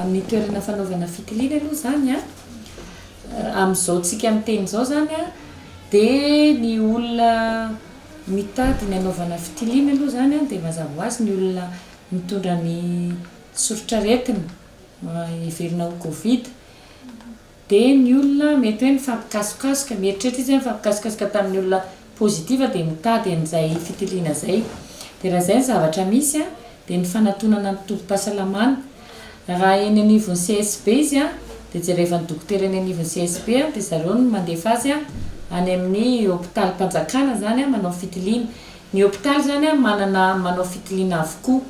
Amin'ny toerana fanaovana fitiliana aloha izany an, amin'izao tsika miteny izao izany an, dia ny olona mitady ny hanaovana fitiliana aloha izany an, dia mazava ho azy ny olona mitondra ny soritr'aretina, Heverina ho Covid dia ny olona mety hoe mifampikasokasoka, mieritreritra izy hoe mifampikasokasoka tamin'ny olona positif dia mitady an'izay fitiliana izay. Dia raha izay ny zavatra misy dia ny fanatonana ny tobim-pahasalamana. Raha eny anivon'ny CSB izy dia jerevan'ny dokotera eny anivon'ny CSB dia zareo no mandefa azy any amin'ny hopitalim-panjakana izany manao fitiliana. Ny hopitaly izany manana manao fitiliana avokoa.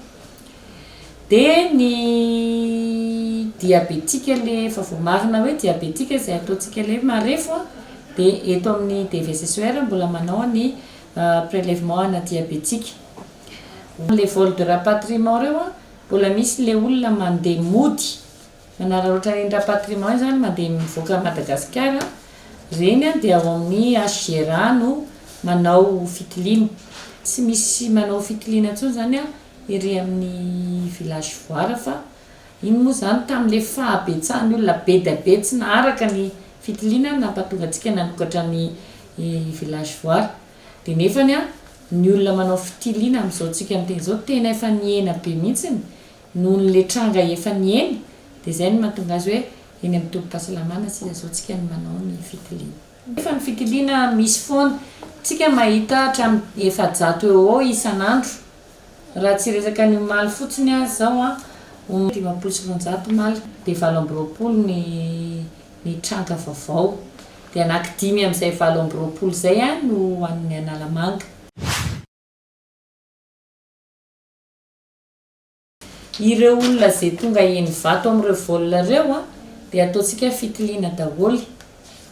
Dia ny diabetika le efa voamarina hoe diabetika izay ataontsika le marefo a, dia eto amin'ny DVSSER mbola manao ny prelèvement ana diabetika. Le vol de rapatriement reo a, mbola misy le olona mandeha mody, manararaotra ireny rapatriement izany mandeha mivoaka Madagasikara, ireny a dia ao amin'ny HGRA no manao fitiliana. Tsy misy manao fitiliana intsony izany a. ery amin'ny village voara fa iny moa izany tamin'ilay fahabetsahan'ny olona be dia be tsy naharaka ny fitiliana no nampahatonga antsika nanokatra ny village voara dia nefany an ny olona manao fitiliana amin'izao tsika miteny izao tena efa nihena be mihitsiny nohon'ilay tranga efa nihena dia izay no mahatonga azy hoe eny amin'ny tobim-pahasalamana sisa izao tsika no manao ny fitiliana. nefa ny fitiliana misy foana, tsika mahita hatramin'ny efajato eo ho eo isan'andro, raha tsy resaka ny omaly fotsiny aza izao an, omaly dimampolo sy roanjato omaly, dia valo amby roapolo ny ny tranga vaovao, dia anaky dimy amin'izay valo amby roapolo izay an no an'ny Analamanga. Ireo olona ze tonga heno vato amin'ireo vol reo a, dia ataontsika fitiliana daholo.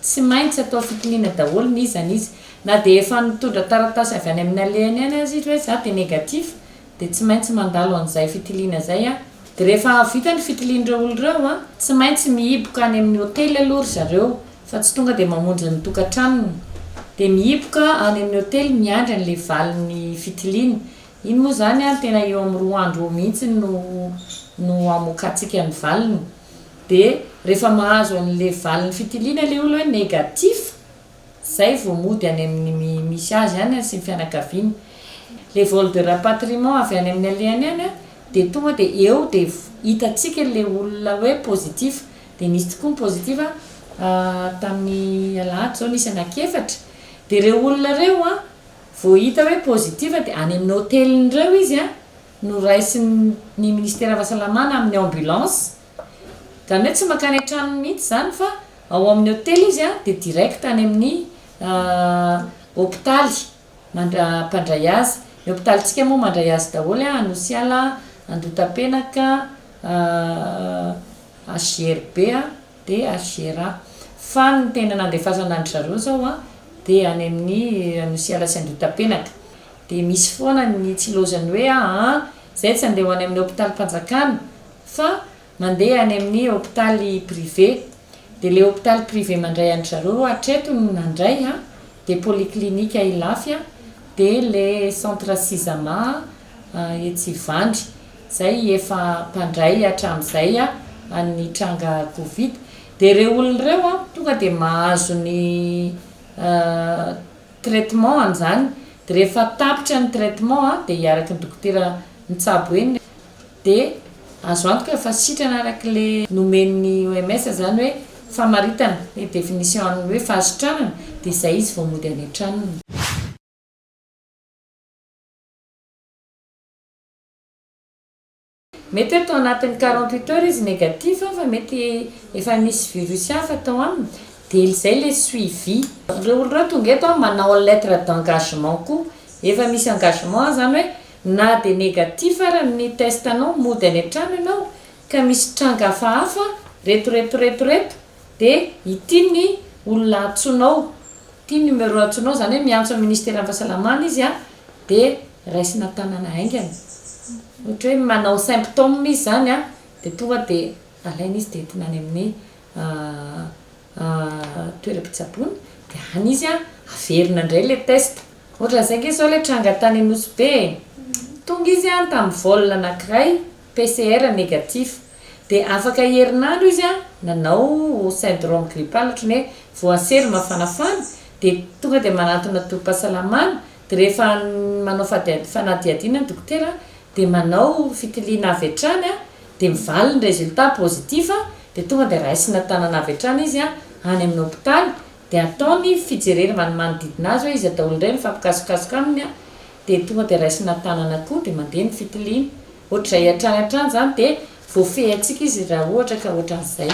Tsy maintsy atao fitiliana daholo ny izany izy. Na dia efa nitondra taratasy avy any amin'ny alehany any aza izy hoe za dia negatif, dia tsy maintsy mandalo an'izay fitiliana zay a. Dia rehefa vita ny fitilian'ireo olona ireo a, tsy maintsy mihiboka any amin'ny hotely aloha ry zareo fa tsy tonga dia mamonjy ny tokantranony. Dia mihiboka any amin'ny hotely miandry an'ilay valin'ny fitiliana. Iny moa izany ary tena eo amin'ny roa andro eo mihitsy no no amokatsika ny valiny. Dia rehefa mahazo an'ilay valin'ny fitiliana ilay olona hoe négatif, izay vao mody any amin'ny mi misy azy any sy ny fianakaviany. Ilay vol de rapatriement avy any amin'ny alehany any dia tonga dia eo dia hitantsika ilay olona hoe positif. Dia nisy tokoa ny positif tamin'ny alahady izao nisy anankiefatra. Dia ireo olona ireo an! Vao hita hoe positive dia any amin'ny hotelin'ireo izy no raisin'ny minisiteran'ny fahasalamana amin'ny ambulance. Izany hoe tsy mankany an-tranony mihitsy izany fa ao amin'ny hotely izy dia direct any amin'ny hopitaly mpandray azy. Ny hopitalintsika moa mandray azy daholo, Anosiala, Andotapenaka, HJRB. DHR, fa ny tena nandefasana an-dry zareo izao dia any amin'ny Nosy Ala sy Andohitapenaka. Dia misy foana ny tsilozan'ny hoe aa izay tsy handeha ho any amin'ny hopitalim-panjakana fa mandeha any amin'ny hopitaly privé. Dia ilay hopitaly privé mandray an-dry zareo hatreto no nandray dia polyclinique Ilafy dia ilay centre Sisama, etsy Ivandry izay efa mpandray hatramin'izay an'ny tranga covid dia ireo olona ireo tonga dia mahazo ny traitement an'izany dia rehefa tapitra ny traitement dia hiaraky ny dokotera mitsabo eny dia azo antoka fa sitrana araky le nomen'ny OMS izany hoe famaritana ny definition an'ny hoe fahasitranana dia izay izy vao mody any an-tranony. Mety hoe tao anatin'ny quarante huit heures izy négatif fa mety efa nisy virus hafa tao aminy dia izay ilay suivi. Ireo olona ireo tonga eto manao lettre d'engagement koa, efa misy engagement izany hoe na dia négatif ary ny test anao mody any an-trano ianao ka misy tranga hafahafa reto reto reto reto dia ity ny olona antsoinao, ity ny numéro antsoinao izany hoe miantso ny ministeran'ny fahasalamana izy dia raisina tanana haingana ohatra hoe manao symptômes izy zany an dia tonga dia alaina izy dia entina any amin'ny toeram-pitsaboana dia any izy an averina indray ilay test ohatran'izay ange zao ilay tranga tany Anosibe e tonga izy an tamin'ny vol anankiray PCR negatif, dia afaka herinandro izy nanao syndrome grippal ohatran'ny hoe voaselo mafanafana dia tonga dia manantona tobim-pahasalamana dia rehefa manao fanadihadiana ny dokotera dia manao fitiliana avy hatrany dia mivaly ny résultat positif dia tonga dia raisina tanana avy hatrany izy any amin'ny hopitaly dia atao ny fijerena manodidina azy hoe iza daholo indray no mifampikasokasoka aminy dia tonga dia raisina tanana koa dia mandeha ny fitiliana, ohatr'izay hatrany hatrany izany dia voafehintsika izy raha ohatra ka ohatran'izay.